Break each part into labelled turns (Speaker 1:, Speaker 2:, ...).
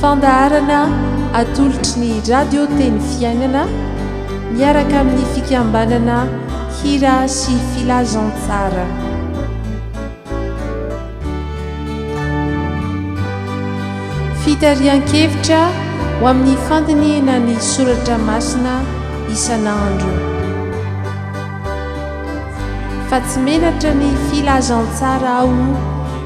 Speaker 1: Fandaharana atolotry ny Radio Teny Fiainana miaraka amin'ny fikambanana Hira sy Filazantsara. Fitarihan-kevitra ho amin'ny fandinihana ny soratra masina isan'andro. Fa tsy menatra ny Filazantsara aho.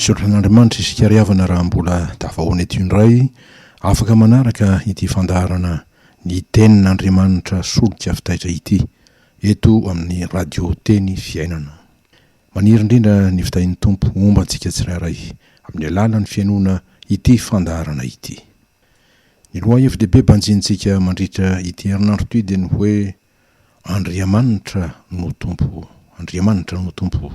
Speaker 2: Misaotra an'Andriamanitra isika ry havana raha mbola tafahoana eto indray afaka manaraka ity fandaharana ny tenin'Andriamanitra solika fitaitra ity eto amin'ny radio teny fiainana. Maniry indrindra ny fitahin'ny Tompo homba antsika tsirairay amin'ny alalan'ny fihainoana ity fandaharana ity. Ny lohahevi-dehibe banjinintsika mandritra ity herinandro ity dia ny hoe Andriamanitra no Tompo, Andriamanitra no Tompo.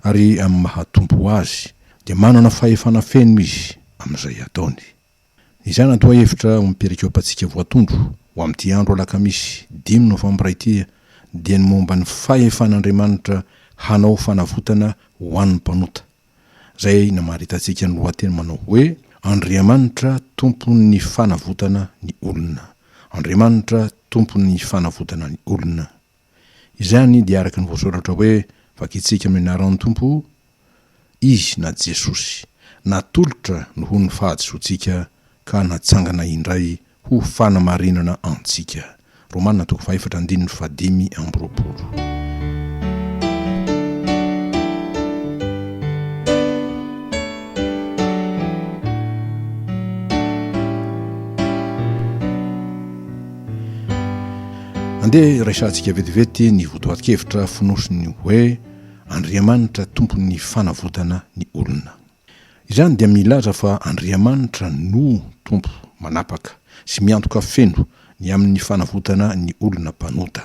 Speaker 2: Ary amin'ny maha Tompo Azy dia manana fahefana feno Izy amin'izay ataony. Ny izany antoahevitra ao amin'ny perikopantsika voatondro ho amin'ity andro alakamisy dimy novambra ity dia ny momba ny fahefan'Andriamanitra hanao fanavotana ho an'ny mpanota. izay namaritantsika ny lohateny manao hoe Andriamanitra tompon'ny fanavotana ny olona. Andriamanitra tompon'ny fanavotana ny olona. Izany dia araka ny voasoratra hoe, Vakintsika amin'ny anaran'ny Tompo, Izy, na Jesosy, natolotra noho ny fahadisoantsika ka natsangana indray Ho fanamarinana antsika. Romana toko fahefatra andininy fahadimy amby roapolo. Andeha resahantsika vetivety ny votoatin-kevitra fonosin'ny hoe Andriamanitra tompon'ny fanavotana ny olona. Izany dia milaza fa Andriamanitra no Tompo manapaka sy miantoka feno ny amin'ny fanavotana ny olona mpanota.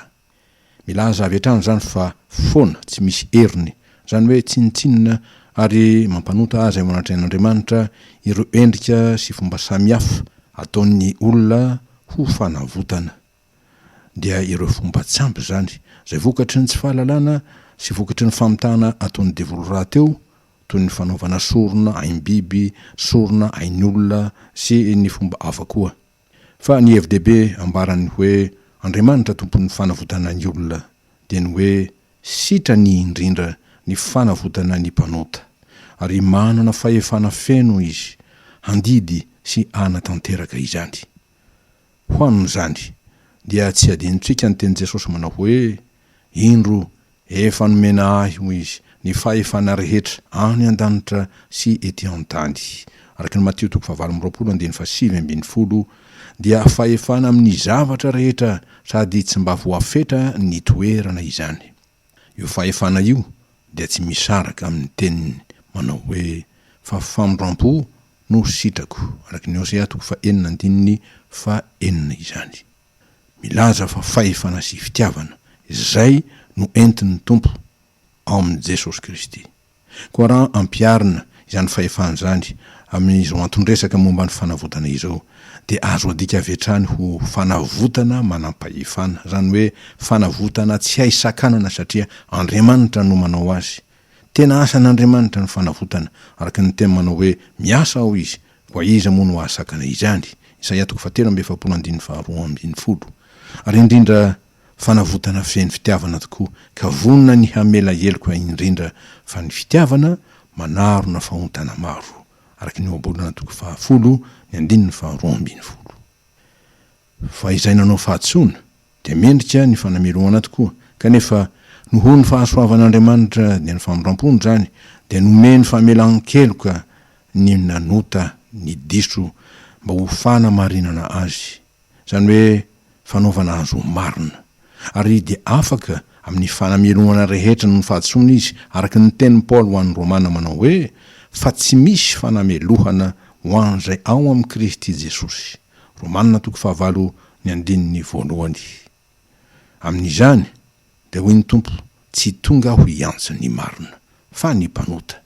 Speaker 2: Milaza avy hatrany izany fa foana, tsy misy heriny, izany hoe tsinontsinona ary mampanota azy eo anatrehan'Andriamanitra ireo endrika sy fomba samihafa ataon'ny olona ho fanavotana. dia ireo fomba tsy ampy izany, izay vokatry ny tsy fahalalana sy vokatry ny famitahana ataon'ny devoly rahateo, toy ny fanaovana sorona aim-biby, sorona ain'olona sy ny fomba hafa koa. Fa ny hevi-dehibe ambaran'ny hoe Andriamanitra tompon'ny fanavotana ny olona dia ny hoe sitrany indrindra ny fanavotana ny mpanota, ary manana fahefana feno izy handidy sy hanatanteraka izany. Ho amin'izany, dia tsy hadinontsika ny tenin'i Jesosy manao hoe, Indro, efa nomena Ahy, hoy Izy, ny fahefana rehetra any an-danitra sy ety an-tany. Araka ny Matio toko fahavalo amby roapolo andininy fahasivy ambin'ny folo, dia fahefana amin'ny zavatra rehetra sady tsy mba voafetra ny toerana izany. Io fahefana io dia tsy misaraka amin' ny teniny manao hoe, Fa famindram-po no sitrako, araka ny Hosea toko fahenina andininy fahenina izany. Milaza fa fahefana sy fitiavana izay no entin' ny Tompo ao amin' i Jesosy Kristy. Koa raha ampiharina izany fahefana izany amin'izao anton-dresaka momba ny fanavotana izao, dia azo adika avy hatrany ho fanavotana manam-pahefana, izany hoe fanavotana tsy hay sakanana satria Andriamanitra no manao azy. Tena asan'Andriamanitra ny fanavotana, araka ny teny manao hoe miasa ao izy, koa iza moa no hahasakana izany? Isaia toko fahatelo amby efapolo andininy faharoa ambin'ny folo. Ary indrindra Fanavotana feno fitiavana tokoa ka vonona ny hamela heloka indrindra fa ny fitiavana manarona fahontana maro, araka ny ohabolana toko fahafolo ny andininy faharoa ambin'ny folo. Fa izay nanao fahadisoana dia mendrika ny fanamelohana tokoa, kanefa nohony fahasoavan'Andriamanitra dia ny famindram-pony izany dia nomeny famelan-keloka ny nanota ny diso mba ho fanamarinana azy izany hoe fanaovana azy ho marina, ary dia afaka amin'ny fanamelohana rehetra noho ny fahadisoana izy, araka ny tenin'i Paoly ho an'ny Romana manao hoe, Fa tsy misy fanamelohana ho an'izay ao amin'i Kristy Jesosy. Romana toko fahavalo ny andininy voalohany. Amin'izany, dia hoy ny Tompo, tsy tonga aho hiantso ny marina, fa ny mpanota.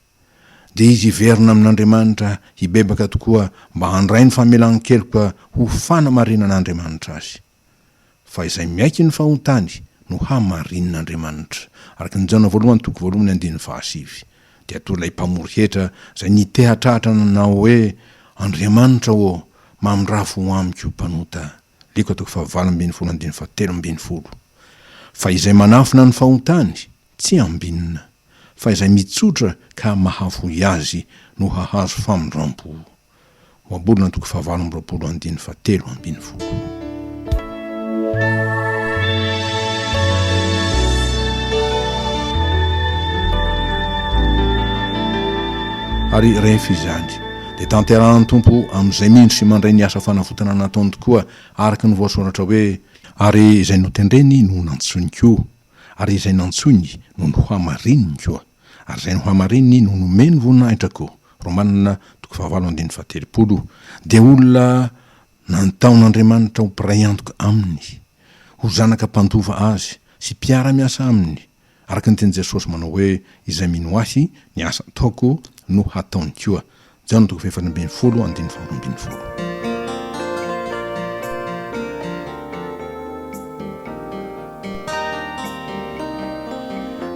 Speaker 2: Dia izy hiverina amin'Andriamanitra hibebaka tokoa mba handray ny famelan-keloka ho fanamarinan'Andriamanitra azy. Fa izay miaiky ny fahotany no hamarinin'Andriamanitra, araka ny Jaona voalohany toko voalohany andininy fahasivy. Dia toa ilay mpamory hetra izay nitehatrahatra nanao hoe, Andriamanitra ô, mamindrafo ho amiko mpanota. Liko toko fahavalo ambin'ny folo andininy fahatelo ambin'ny folo Fa izay manafina ny fahotany, tsy ambinina, fa izay mitsotra ka mahafoy azy no hahazo famindrampo. Ohabolana toko fahavalo amby roapolo andininy fahatelo ambin'ny folo. Ary rehefa izany, Dia tanterahan'ny Tompo amin'izay mindry sy mandray ny asa fanavotana nataony tokoa, araka ny voasoratra hoe. Ary izay notendreny no nantsoiny koa, ary izay nantsoiny no nohamarininy koa, ary izay nohamarininy no nomeny voninahitra koa, Romana toko fahavalo andininy fahatelopolo, dia olona nantaon'Andriamanitra ho mpiray antoka Aminy, ho zanaka mpandova Azy, sy mpiara-miasa Aminy, Araka ny tenin'i Jesosy manao hoe, Izay mino Ahy, ny asa ataoko no hataony koa. Jaona toko fahefatra ambin'ny folo andininy faharoa ambin'ny folo.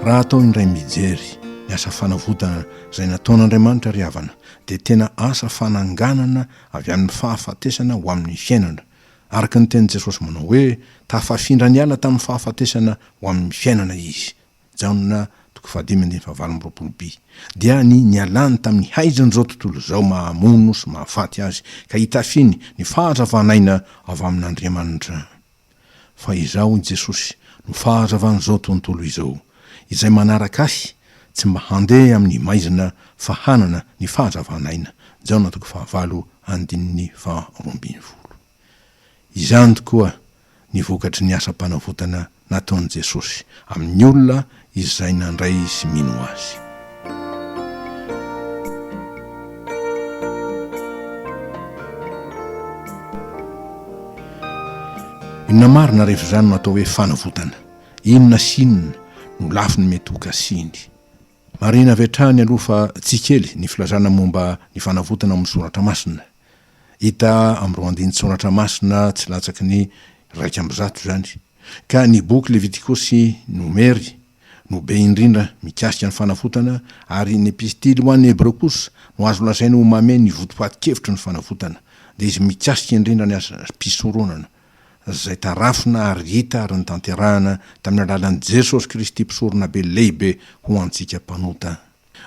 Speaker 2: Raha atao indray mijery ny asa fanavotana izay nataon'Andriamanitra ry havana dia tena asa fananganana avy amin'ny fahafatesana ho amin'ny fiainana Araka ny tenin'i Jesosy manao hoe, Tafafindra niala tamin'ny fahafatesana ho amin'ny fiainana Izy, Jaona toko fahadimy andininy fahavalo amby roapolo bi, dia ny nialany tamin'ny haizan'izao tontolo izao mahamono sy mahafaty azy ka hitafiny ny fahazavan'aina avy amin'Andriamanitra. Fa Izaho, i Jesosy, no fahazavan'izao tontolo izao. Izay manaraka Ahy Tsy mba handeha amin'ny maizina fa hanana ny fahazavan'aina, Jaona toko fahavalo andininy faharoa ambin'ny folo. Izany tokoa ny vokatry ny asam-panavotana nataon'i Jesosy amin'ny olona izay nandray sy mino Azy. Inona marina rehefa izany no atao hoe fanavotana? Inona sy inona no lafiny mety ho kasiany? Marihina avy hatrany aloha fa tsy kely ny filazana momba ny fanavotana ao amin'ny Soratra Masina. Hita amin'ireo andinin-tSoratra Masina tsy latsaky ny iraika amby zato izany. Ka ny boky Levitikosy, Nomery, no be indrindra mikasika ny fanavotana, ary ny Epistily ho an'ny Hebreo kosa no azo lazaina ho mamehy ny votoatin-kevitry ny fanavotana, dia izy mikasika indrindra ny asa-pisoronana. izay tarafina ary hita ary notanterahina tamin'ny alalan'i Jesosy Kristy Mpisoronabe Lehibe ho antsika mpanota.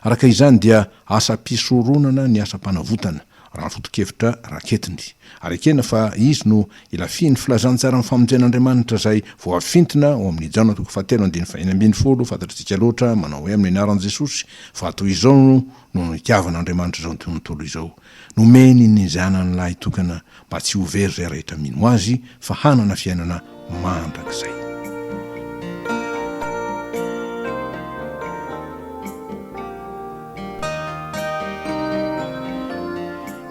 Speaker 2: Araka izany dia asam-pisoronana ny asam-panavotana, raha ny foto-kevitra raketiny, ary ekena fa izy no ilafian'ny filazantsaran'ny famonjen'Andriamanitra izay voafintina ao amin'ny Jaona toko fahatelo andininy fahenina ambin'ny folo, Fantatritsika loatra manao hoe amin'ny anaran'i Jesosy fa toy izao no nitiavan'Andriamanitra izao tontolo izao. Nomeny ny Zanany lahitokana mba tsy ho very izay rehetra mino Azy fa hanana fiainana mandrakizay.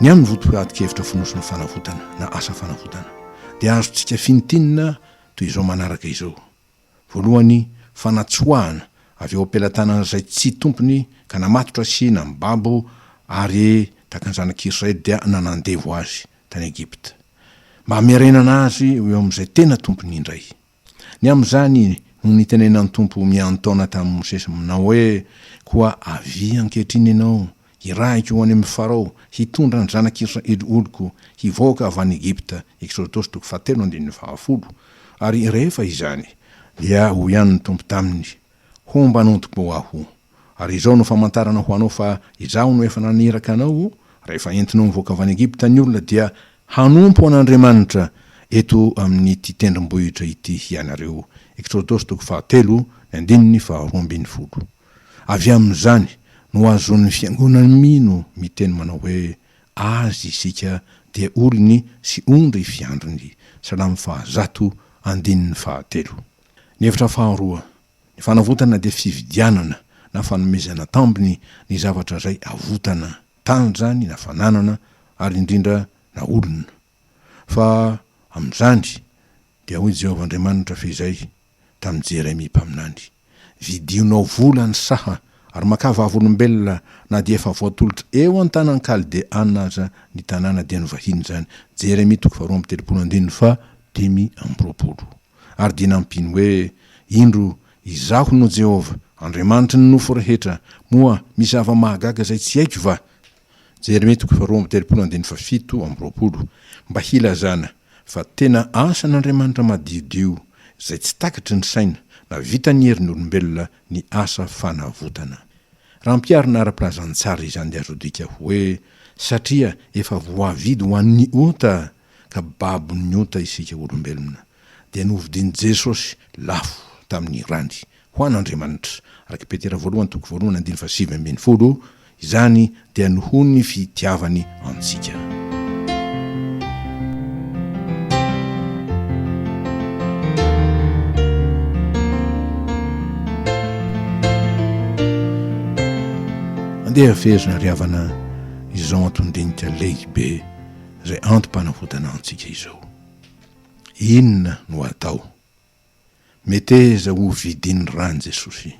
Speaker 2: Ny amin'ny votoatin-kevitra fonosina fanavotana na asa fanavotana dia azontsika fintinina toy izao manaraka izao, Voalohany, fanatsoahana avy eo am-pelatanana izay tsy tompony ka namatotra sy namibabo ary tahaka ny zanak'Israely dia nanandevo azy tany Egypta, mba hamerenana azy ho eo amin'izay tena tompony indray. Ny amin'izany no nitenenan'ny Tompo miantaona tamin'i Mosesy aminao hoe, Koa avia ankehitriny ianao Hirahiko ho any amin'i Farao hitondra ny zanak'i Israely oloko hivoaka avy any Egypta, Eksodosy toko fahatelo andininy fahafolo, ary rehefa izany, dia hoy ihany ny Tompo taminy, Homba an'ontiko Aho, ary izao no famantarana ho anao fa Izaho no efa naniraka anao, rehefa entinao mivoaka avy any Egypta ny olona dia hanompo an'Andriamanitra eto amin'ity tendrombohitra ity hianareo, Eksodosy toko fahatelo, ny andininy faharoa ambin'ny folo. Avy amin'izany no ahazoan'ny Fiangonana mino miteny manao hoe, Azy isika dia olony sy ondry fiandriny, Salamo faha zato, andininy faha telo. Ny hevitra faharoa, Ny fanavotana dia fividianana na fanomezana tambiny ny zavatra izay avotana, tany izany na fananana ary indrindra na olona. Fa amin'izany, Dia hoy Jehovah Andriamanitra fehizay tamin'i Jeremia mpaminany, Vidinao vola ny saha, ary makà vavolombelona na dia efa voatolotra eo an-tanan'ny Kaldeana aza ny tanàna dia ny vahiny izany. Jeremia toko faharoa amby telopolo andininy fahadimy amby roapolo Ary dia nampiany hoe, Indro, Izaho no Jehovah, Andriamanitry ny nofo rehetra, moa misy zava-mahagaga izay tsy haiko va? Jeremia toko faharoa amby telopolo andininy fahafito amby roapolo, mba hilazana fa tena asan'Andriamanitra madiodio izay tsy takatry ny saina na vitan'ny herin'olombelona ny asa fanavotana. Raha ampiharina ara-pilazantsara izany dia azo adika hoe satria efa voavidy ho an'ny ota ka babon'ny ota isika olombelona dia novidin'i Jesosy lafo tamin'ny rany ho an' Andriamanitra, araka i Petera voalohany toko voalohany andininy fahasivy ambin'ny folo, izany dia noho ny fitiavany antsika. Andeha hafehezina ry havana izao anton-dinika lehibe izay antom-panavotana antsika izao. Inona no atao? Meteza ho vidin'ny ran'i Jesosy.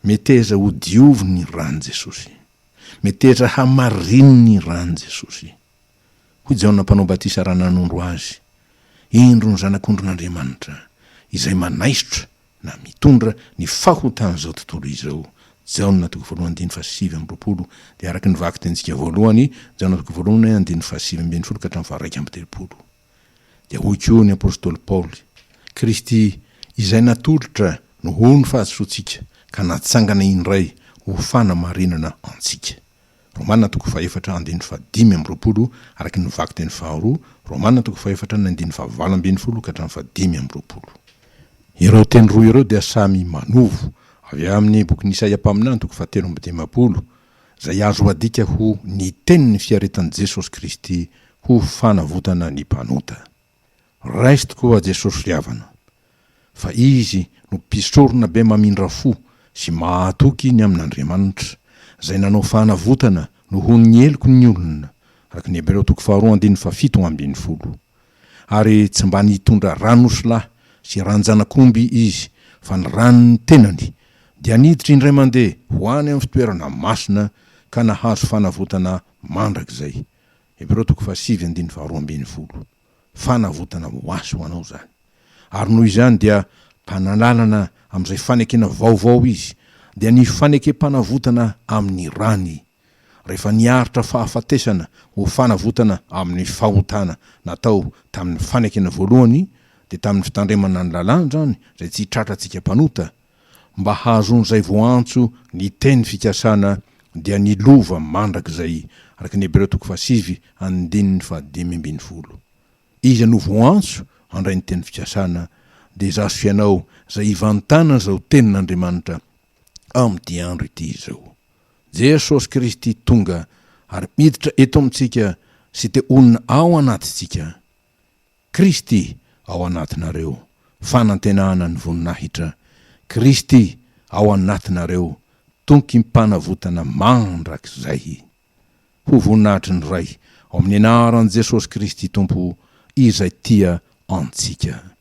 Speaker 2: Meteza ho diovin'ny ran'i Jesosy. Meteza hamarinin'ny ran'i Jesosy. Hoy Jaona Mpanao Batisa raha nanondro Azy, Indro ny Zanak'ondrin'Andriamanitra, izay manaisotra, na mitondra, ny fahotan'izao tontolo izao. Jaona toko voalohany andininy fahasivy amby roapolo, dia araka ny vakitentsika voalohany, Jaona toko voalohany andininy fahasivy ambin'ny folo ka hatramin'ny faharaika amby telopolo. Dia hoy koa ny apostoly Paoly, Kristy izay natolotra no ho ny fahadisoantsika, ka natsangana indray ho fanamarinana antsika. Romana toko fahefatra andininy fahadimy amby roapolo, araka ny vakiteny faharoa, Romana toko fahefatra ny andininy fahavalo ambin'ny folo ka hatramin'ny fahadimy amby roapolo. Ireo teny roa ireo dia samy manovo avy amin'ny bokin'i Isaia mpaminany toko fahatelo amby dimampolo izay azo adika ho ny tenin'ny fiaretan'i Jesosy Kristy ho fanavotana ny mpanota. Raiso tokoa Jesosy ry havana, fa Izy no mpisorona be mamindra fo sy mahatoky ny amin'Andriamanitra, izay nanao fanavotana nohon'ny heloky ny olona, araka ny Hebreo toko faharoa andininy fahafito ambin'ny folo. Ary tsy mba nitondra ran'osilahy sy ran-janak'omby izy, fa ny ran'ny tenany, dia niditra indray mandeha ho any amin'ny fitoerana masina ka nahazo fanavotana mandrakizay. Hebreo toko fahasivy andininy faharoa ambin'ny folo. Fanavotana ho azy ho anao izany. Ary noho izany dia mpanalalana amin'izay fanekena vaovao izy, dia ny fanekempanavotana amin'ny rany rehefa niaritra fahafatesana ho fanavotana amin'ny fahotana natao tamin'ny fanekena voalohany dia tamin'ny fitandremana ny lalàna izany izay tsy tratra antsika mpanota mba hahazoan'izay voaantso ny teny fikasana dia ny lova mandrakizay araka ny Hebreo toko fahasivy andininy fahadimy ambin'ny folo iza no voaantso handray ny teny fikasana dia izaho sy ianao izay ivantanan'izao tenin'Andriamanitra amin'ity andro ity izao. Jesosy Kristy tonga ary miditra eto amintsika sy te honina ao anatintsika. Kristy ao anatinareo, fanantenana ny voninahitra. Kristy ao anatinareo, tonkim-panavotana mandrakizay. Ho voninahitry ny Ray, ao amin'ny anaran'i Jesosy Kristy Tompo, izay tia antsika.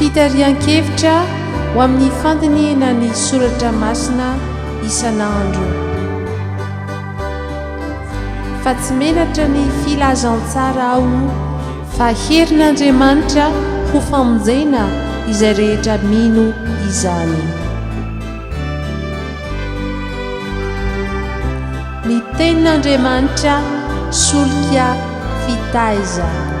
Speaker 1: Fitarihan-kevitra ho amin'ny fandinihina ny soratra masina isan'andro. Fa tsy menatra ny filazantsara aho fa herin'Andriamanitra ho famonjena izay rehetra mino izany. Ny Tenin'Andriamanitra solika fitaizana.